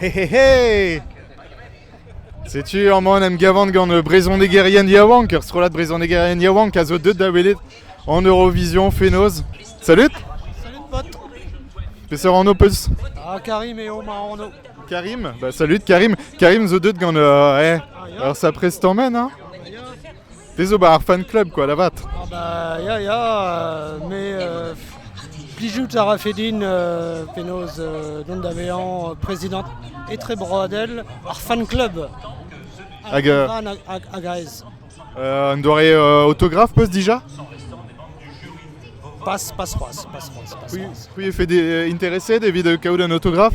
Hehehe! Setu aman em gavan gant brezhonegerien yaouank, ur strollad brezhonegerien yaouank a zo deuet da welet en Eurovision fenoz. Salut Salut pote Peseurt anv peus Ah Karim eo ma anv Karim Bah salut Karim Karim zo deuet gant... euh, eh, ah, ur sapre stamen, hein Te zo 'ba ar fan club kwa da vat. Ah bah ya ya, mais euh, plijout a rafe din euh, penaos euh, dont da vezañ prezidant etrebroadel ar fan club. Hag, euh, hag, hag aes. Euh, un doare euh, autographe peus déjà Pas, pas c'hoaz, pas c'hoaz. C'hwi, c'hwi e fait des, euh, intéressé d'evit euh, kaout un autographe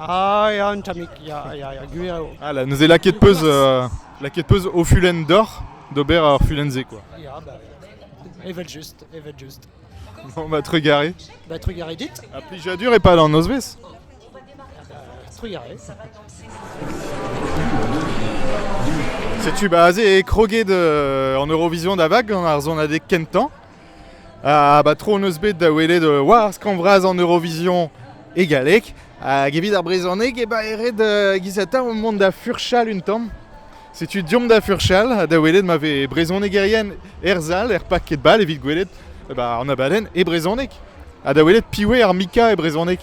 Ah ya, un tammig, ya, ya, ya, gwir eo. Voilà, neuze lakaet peus, euh, lakaet peus o fulenn d'oc'h d'ober ar fulenn-se, quoi. Ya, bah, evel-just, evel-just. Bon, bah, trugaré. Bah, trugaré dit. A plijadur et pas d'an nozvezh. Trugaré. Setu bah aze crogué de, en Eurovision da vague gant ar zonadeg kentañ. Ha batron eus bet da welet euh, war skramm vras an Eurovision e galleg. Hag evit ar brezhoneg e ba eret uh, gizata mont da furchal un tamm. Setu diomp da furchal ha da welet ma ve brezhonegerien erzal er pak ket bal evit gwelet eh ba, an abadenn e brezhoneg. Ha da welet piwe ar mika e brezhoneg.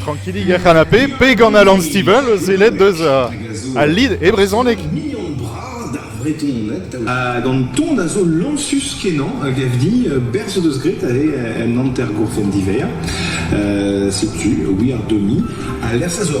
Trankilik er c'hanapé, pe gant Alan Stivell, sellet deus al lid e brezhoneg. Ha gant ton a zo lañsus kenañ a gav din berzh deus graet ave en hanter-gourfenn diver. Setu We Are Demi a lec'h a zo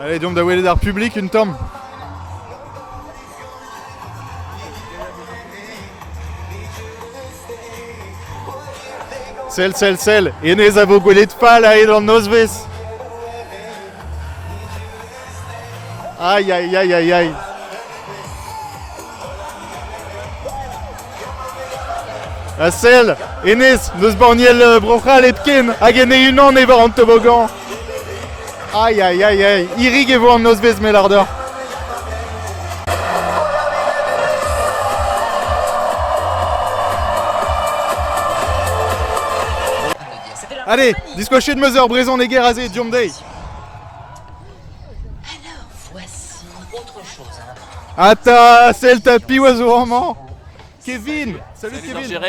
Allez, deomp da welet ar publik un tamm. Sell, sell, sell, hennezh a vo gwelet fall a-hed an nozvezh. Aïe, aïe, aïe, aïe, aïe. Ha sell, hennezh n'eus banniel euh, Bro-C'hall hepken, hag en e-unan e war an tobogan. Aïe aïe aïe aïe, irig e vo an nozvezh melar deoc'h. Allez, discochez de Mother, présent les guerres azé, Diomdey. Alors voici autre chose, hein. Ata, sell 'ta piv a zo amañ Kevin Salut Kevin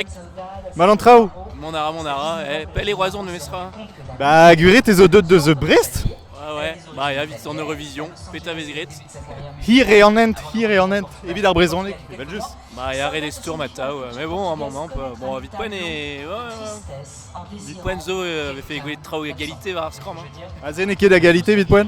Mal en traoù Mon ara, mon ara, eh, pelle Roison ne mesra Bah Guré, t'es au 2 de The Brest Ah ouais, bah ya, vite en Eurovision, peta vez gret Hir e an hent, hir e an hent, evit ar brezhoneg, evel just Bah ya, re des stourm atav, mais bon, un moment, bon, vite poen et... Ouais, ouais, vite poen zo, euh, avait fait gwelet traoù à égalité war ar skram, hein Ah, c'est n'est ket à égalité, vite poen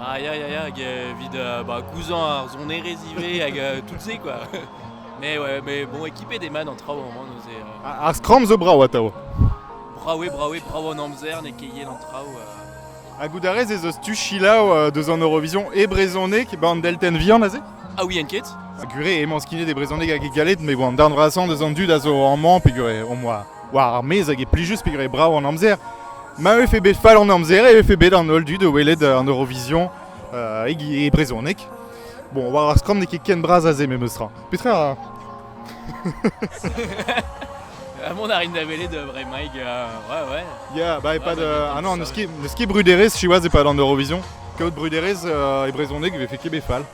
Ah ya, ya, ya, evit euh, bah, cousin ar sonerezh ivez, hag euh, tout se quoi. Mais ouais, mais bon, équipé des man en traoù au moment, nous est... Euh... Ar skram zo brav atav. Brawe, brawe, brav an amzer, ne ket yen an traoù. Euh. A goudarez ez eus tu chilaou euh, deus an Eurovision e brezhoneg ba an delten vihan aze? Ah oui, en ket Gure emañ skinet e brezhoneg hag e galet, me bon, an darn vrasan deus an dud a zo amañ, pe gure, au moins. war ar maez hag e plijus pegwir brav an amzer. Ma vefe bet fall an amzer e vefe bet an holl dud o welet an Eurovision uh, e, e brezhoneg. Bon, war ar skramm n'eo ket ken bras aze memestra. Petra a... Mon arrive d'aveler de vrai Mike, euh, ouais ouais. Yeah, bah pas de... Ah non, n'eus ket brudérez, siwaz e pas d'an Eurovision. Kaout brudérez euh, e brezhoneg e vefe ket bet fall.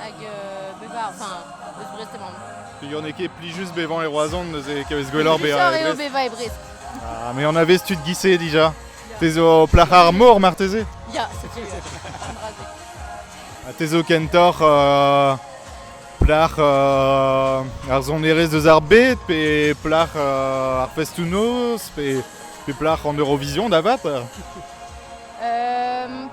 Hag euh, bevañ, enfin, eus Brest emaomp. Yon eo ket plijus bevañ e Roazhon, neuze kavez gwelloc'h bezañ e Brest. bevañ e Brest. Ah, mais on avait tu de ghisser déjà. T'es au plac'h ar mor marteze Ya, c'est une Ah, T'es au kentor euh, plac'h euh, ar sonerezh deus ar bet, pe plac'h euh, ar festounos, pe, pe plac'h en Eurovision d'avat Euh,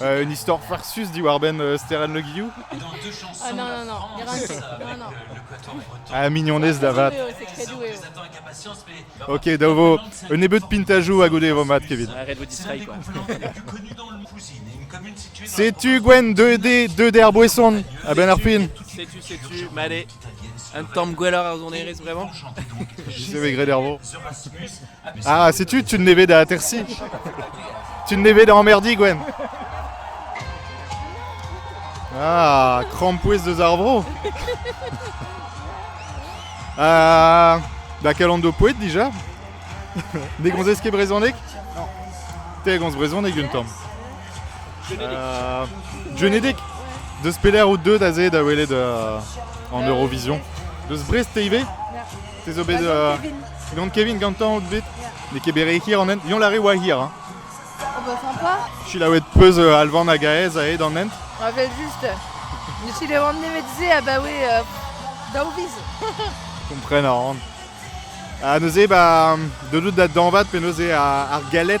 un istor farsus diwar-benn Steren Le Guillou Ah non, non, non, Miracle. Non, non. Ah, mignonez da vat. Ok, da vo un nebeud pintajou a goude e vo mat, Kevin. Setu Gwen 2D, 2D ar boesson. A ben ar pin. Setu, setu, made. Un tamm gwelloc'h ar sonerezh vraiment J'ai maigret d'ervo. Ah, sais-tu, tu ne vais à Tersi Tu ne vais en merdi, Gwen Ah, crampouise de Zarbro Euh... Da kalando poet déjà Ne gonzez ket brezhoneg Non. Te gonz brezhoneg un tamm. Uh, Genedig Deus pelec'h out deuet aze da welet uh, an Eurovision Deus Brest te ivez Te zo bet uh, Gant Kevin gantañ out bet N'eo ket bet re hir an hent Yon la re oa hir hein Oh bah sympa Chilaouet peus uh, Alvan hag Aez aet an hent Ah bah juste Je suis le rendre médecin ah bah oui euh, Daoviz Kompren a ran. Ha neuze, ba, de dout da danvat pe neuze ar, ar galet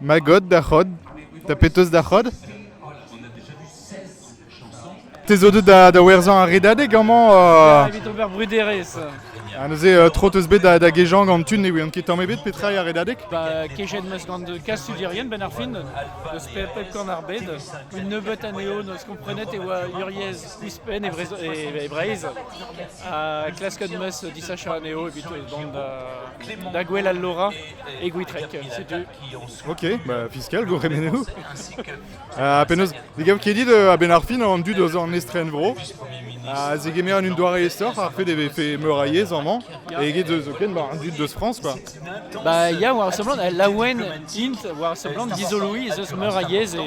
Ma god da c'hod, da penaos da c'hod ? Te zo deuet da, da werzhañ ar redadeg amañ uh... Evit ober bruderezh. Ha neuze uh, tro teus bet da, da gejañ gant tu ne ouien ket tamm ebet petra eo ar redadeg Ba, kejet 'meus gant kastudierien benn ar fin, n'eus pe pep korn ar bed. Une nebeut anezho n'eus komprenet e oa uriez ouzhpenn e, Vrez- e, e Breizh. Ha klasket 'meus disachat anezho evit bon da, da gwell al Lora. e Gwitrek. Ok, bah fiscal, go remenez-vous. Uh, penaos, ne gav ket dit euh, a-benn ar fin an dud eus an estren vro a zegemer un doare esoc'h ar fait e vefe meur a yezh amañ e eget eus zoken ba, un dud deus France quoi. Bah ya war seblant, laouen int war seblant dizoloiñ ez eus meur a yezh e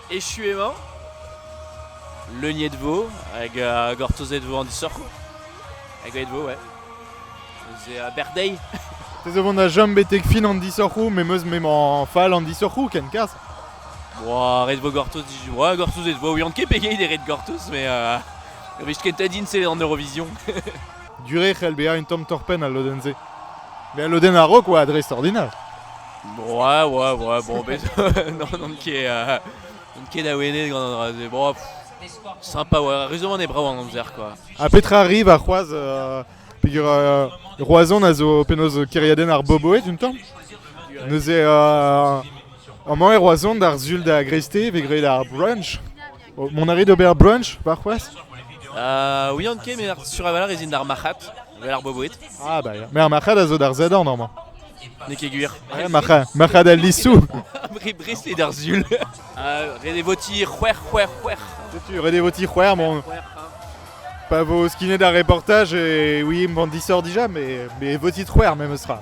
Echu emañ. Leuniet vo hag uh, gortozet vo an disoc'hoù. Hag aet vo, ouais. C'est uh, birthday. Te zo vont a jom betek fin an disoc'hoù, me meus m'emañ fall an disoc'hoù ken kas. Boa, ret vo gortoz. Boa, gortozet vo. Ouian ket pegeit e ret gortoz, mais uh, vist ket din c'est en Eurovision. Duré c'hell bezañ un tamm torpenn al lodenn-se. Met al lodenn a-raok oa a dres ordinal. Broa, oa, broa, bon, bez... n'on ket... euh, n'on ket awenet gant an dra-se, bon, sympa, oa, ruzomant eo brav an amzer, quoi. Ha petra arrive ar c'hoaz euh, peger euh, Roazhon a zo penaos kêriadenn ar Boboed, un tamm Neuze euh, amañ e Roazhon d'ar sul da greizte, vez graet ar brunch Mont a rit d'ober brunch warc'hoazh euh, Oui, Anke, mais sur avalor ez int ar marc'had, vel ar boboed. Ah, bah, ya. Mais ar marc'had a zo d'ar zedan, normalement. N'e ket gwir. Ouais, marc'had, marc'had al lissou. Re bresle d'ar zul. Euh, redez voti c'hwer, c'hwer, c'hwer. Tu redez voti c'hwer, mon. Pas vos kiné d'un reportage et oui, il m'en dit sort déjà, mais, mais voti c'hwer même sera.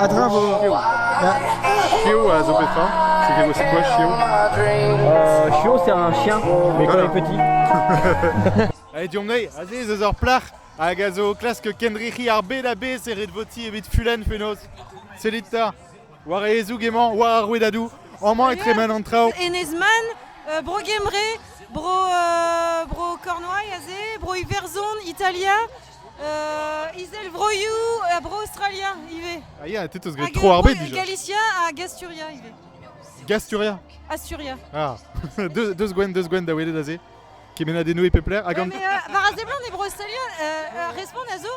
A-dreñv a vo... Chio a zo bet fañ c'est quoi chio euh, Chio c'est un chien, mais quand il est petit. Allez, Diomnei, aziz eus ar plac'h hag a zo o klask kendrec'hiñ ar bed a bez e ret voti evit Fulen Fenoz. Sellit ta War ezoug emañ, war ar rouedadoù, amañ e tremen an traoù. Enez-Man, euh, Bro-Gembre, Bro, euh, Bro Cornouailles aze, Bro Iwerzhon, Italia, euh, Izelvroioù ha Bro Australia ivez. Ah yeah, t'es gré trop arbé déjà. Galicia hag Asturia ivez. Gasturia Asturia. Ah, deux, deux sgwenn, deux sgwenn da welet aze. Kemennadennoù e pep lec'h hag an... War a seblant e Broselian respont a zo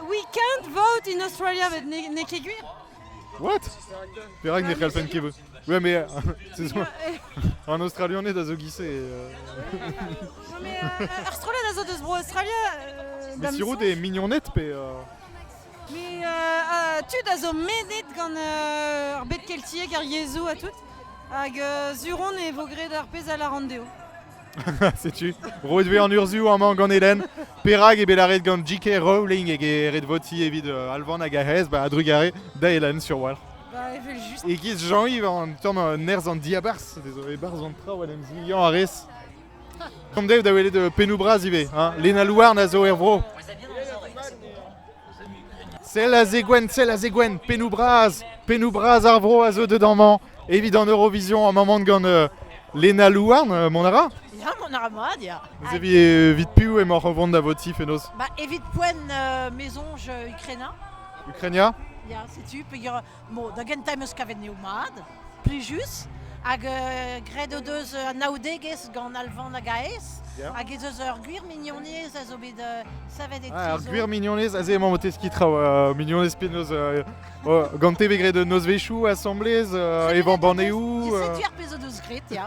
We can't vote in Australia, met n'eo ket gwir. What Perak ne c'hellfen ket vote Ouais, mais an Australianed a zo gise. Mais ar strollad a zo deus Bro Australia. Mais Sirou des mignonnettes, pe... Mais tud a zo medet gant ar bed keltiek, ar yezhoù ha tout. Hag sur on e vo graet ar pezh a lâr an deo. Setu, roet vez an urzhioù amañ gant Hélène. Perak eo bet lâret gant J.K. Rowling eg e ret votiñ evit Alvan hag Ahez ba a-drugarez da Hélène sur walc'h. Ba evel-just. E-giz Jean-Yves an tamm nerzh an diabarzh, dezo e-barzh an traoù en em zilhañ a rez. An dev da welet uh, pennoù bras ivez. Hein? Lena Louarn a zo er vro. Sell a zegwenn, sell a zegwenn. Pennoù bras, pennoù bras ar vro a zo dedans-mañ. Evit en Eurovision en maman gant uh, Lena Louarn, uh, mon ara Ya, mon ara mat, ya. Vous aviez euh, vite pu emaoc'h o vont da votif enos Bah, evit poen euh, maison, je Ukraina. Ukraina Ya, setu, peger Bon, da gentañ em eus kavet n'eo mat, plijus. Hag euh, graet o deus anaoudegezh gant Alvan hag Aes. Hag ez eus ur gwir mignonez a zo bet euh, savet e ah, Ur gwir mignonez, aze emañ o teskiñ traoù. Euh, mignonez penaos euh, oh, gant te bet graet nozvezhioù asamblez, evañ banneoù. Setu ar pezh o deus graet, ya.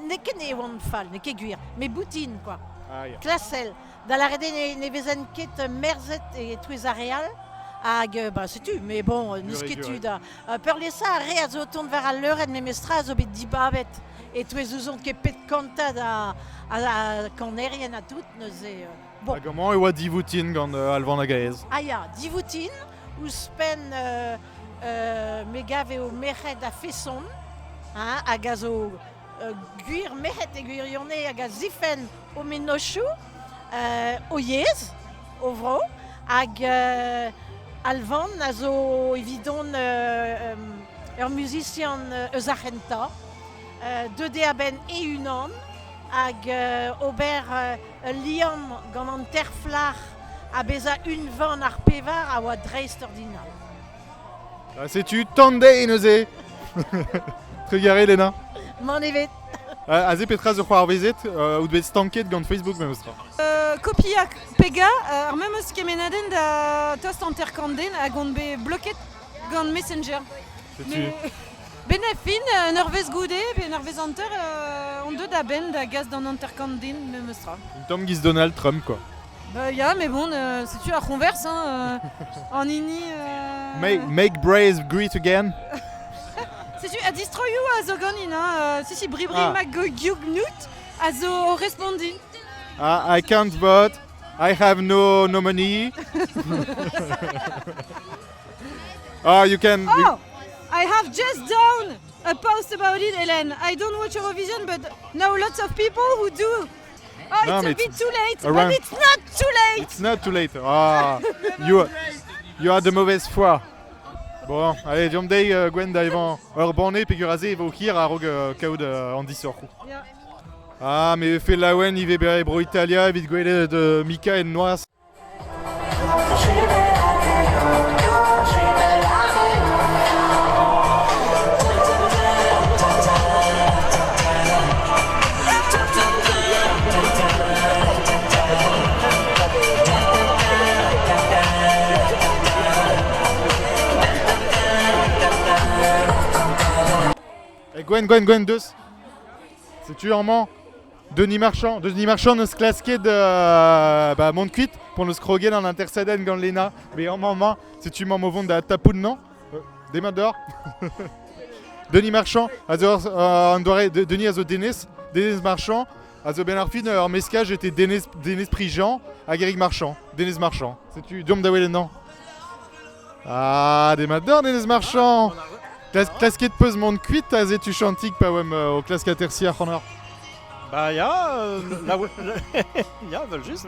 N'eo ket ne oan fall, n'eo ket gwir, met boutin quoi. Ah, ya. Klasel, da lâret eo ne vezent ket merzet e-touez ar re all. Hag bah, setu, mais bon, n'eus ket tu da... peurliesañ ar re a zo o tont war al leurenn memestra a zo bet dibabet e-touez ouzont ket pet kanta da kanerien ha tout, neuze... Hag amañ e oa divoutin gant uh, Alvan hag Aez. Ah ya, divoutin, ouzhpenn uh, uh, me gav eo merc'hed a-feson, hein, hag a zo uh, gwir merc'hed e gwirionez, hag a zifenn o mennozhioù, uh, o yezh, o vro, hag uh, Alvan a zo evidon uh, um, ur muzisian eus ar c'hentañ, uh, deuet eo a-benn e-unan, hag uh, ober uh, Ul liamm gant an terflac'h ha bezañ unvan ar pevar a oa dreistordinal. Ha setu Tandei neuze Trugarez Lena Mann evet Aze petra zo c'hoarvezet euh, out bet stanket gant Facebook memes tra euh, Kopiañ pega euh, ar memes kemenadenn da tost hanter kant den hag on bet bloket gant Messenger Setu. Ben e fin, un eurvezh goude, pe un eurvezh hanter, euh, on deuet a-benn da gas d'an hanter-kant din, memes tra. Une tamm giz Donald Trump, quoi. Bah, ya, mais bon, euh, c'est-tu à Converse, hein, euh, en ini... euh, Make, make braves greet again. C'est-tu à distro you a zo ganin, hein, euh, si si bribri Ah. mag go gyug nut, a zo o respondin. I, I can't vote. I have no nominee. Ah, you can. Oh, I have just done a post about it, Hélène. I don't watch Eurovision, but know lots of people who do. Oh, no, it's a bit too late, but it's not too late. It's not too late. Ah, you, you are the mauvaise foi. Bon, allez, diomp dezhi euh, gwen da evañ ur banne peger aze e vo hir a-raok euh, kaout euh, an disoc'h. Ah, mais fe laouen ivez bere bro Italia evit gwelet de Mika en noaz. Gwen, Gwen, Gwen, deus. Setu amañ Denis Marchand. Denis Marchand n'eus klasket euh, bah, mont kuit pour nous scroguer en interceden gant Lena. Mais en maman, si tu m'en vont da tapoun, non euh, Demat dehors Denis Marchand, euh, on doit Denis a zo Denis, Denis Marchand, a zo ben ar fin ur meska j'étais Denis, Denis Prijean à Guéric Marchand, Denis Marchand. C'est tu Diom da non Ah, demat dorn, Enez Marchand Klasket peus mont kuit aze tu Chantik pa oemp euh, o klask atersi ac'hanoc'h Ba ya, euh, la ya, vel just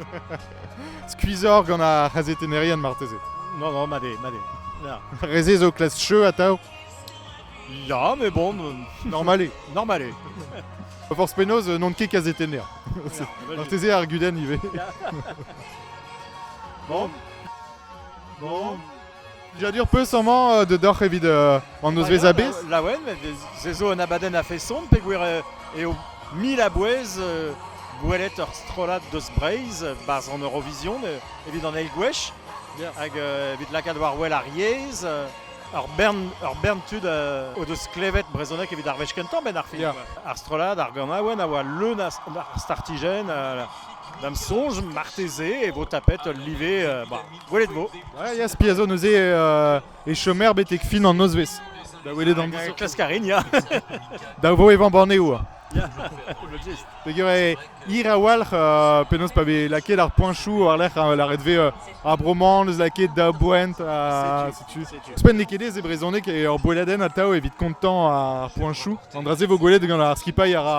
Skuizor gant ar c'hazetennerien marteze Non, non, ma de, ma de Reze zo klask cheu atao Ya, mais bon... Euh, Normale Normale Pas force penaos, non ket kazetenner Marteze ar guden ivez Bon Bon. Dija-du peus amañ euh, dedoc'h evit euh, an nozvezh a-bezh Laouen, se zo un abadenn a-feson peogwir euh, eo mil a-bouez euh, gwelet ur strollad deus Breizh barzh an Eurovision euh, evit an eil gwech hag euh, evit lakaat war wel ar yezh euh, ur bern, ur bern tud euh, o deus klevet brezhoneg evit ar wech kentañ benn ar film. Ar strollad, ar ganaouenn a oa leun a, ar startijenn, a, D'am soñj, marteze e vo tapet ul live. ba, gwelet vo. Ouais, ya, spi a zo neuze euh, e chomer betek fin an nozvezh. Da welet an dizou. Klask a rin, ya. Da vo evañ banneoù. Ya. Peger eo hir a-walc'h euh, penaos pa vez lakaet ar poinchoù war-lerc'h euh, lâret vez euh, ar bro-mañ neus lakaet da boent. ha setu. Ouzhpenn n'eo ket aes e brezhoneg e ur boeladenn atav evit kontañ ar poinchoù. An dra-se vo gwelet gant ar skipailh a ra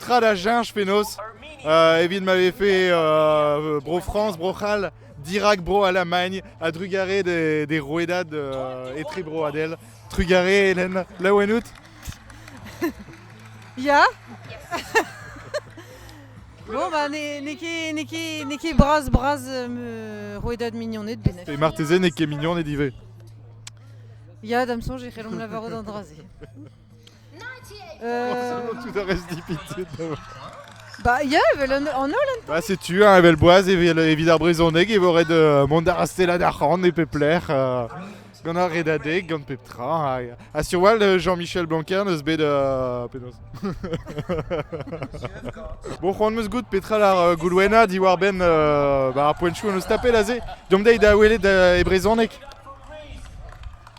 tra da cheñch penaos uh, evit ma vefe uh, Bro-France, Bro-C'hall dirak Bro-Alamagn a-drugarez des, des rouedad uh, etrebroadel. Trugarez, Hélène, laouen out Ya Bon, bah, n'e ket bras bras euh, rouedad mignoned benef. Et marteze n'e ket mignoned ivez. Ya, dam soñj e c'hellomp lavarout an dra-se. Tout a reste dépité. Bah, yeah, evel an an holl an Bah, setu, hein, evel boaz, evel evit ar brezoneg, e vorret euh, mont da rastella d'ar c'han e pep lec'h. euh, gant ar redadeg, gant pep tra. Ha, ha sur wall, euh, Jean-Michel Blanquer n'eus bet... euh, penaos Bon, c'hoant meus goût petra ar euh, Goulwena diwar-benn euh, bah, ar poentchou en eus tapet aze. Deomp dezhi da welet euh, e brezoneg.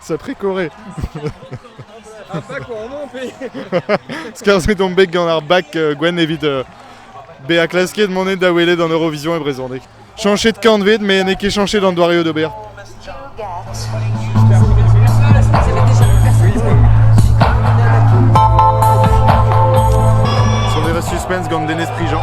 Sacré Corée Skarzhet on bet gant ar bac euh, gwenn evit euh, bezañ klasket mont da welet en Eurovision e brezhoneg. Chañchet kantved, mais n'eo ket chañchet d'an doareoù d'ober. Sonera suspense gant Denez Prigent.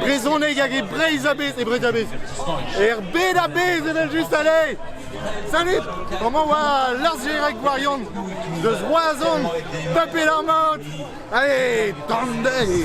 Brezhoneg hag e Breizh a-bezh, e Breizh a-bezh. Er bed a-bezh evel-just, allez Salut Comment va largérec gwarion deus Roazhon Tapet ar maout Allez Tandei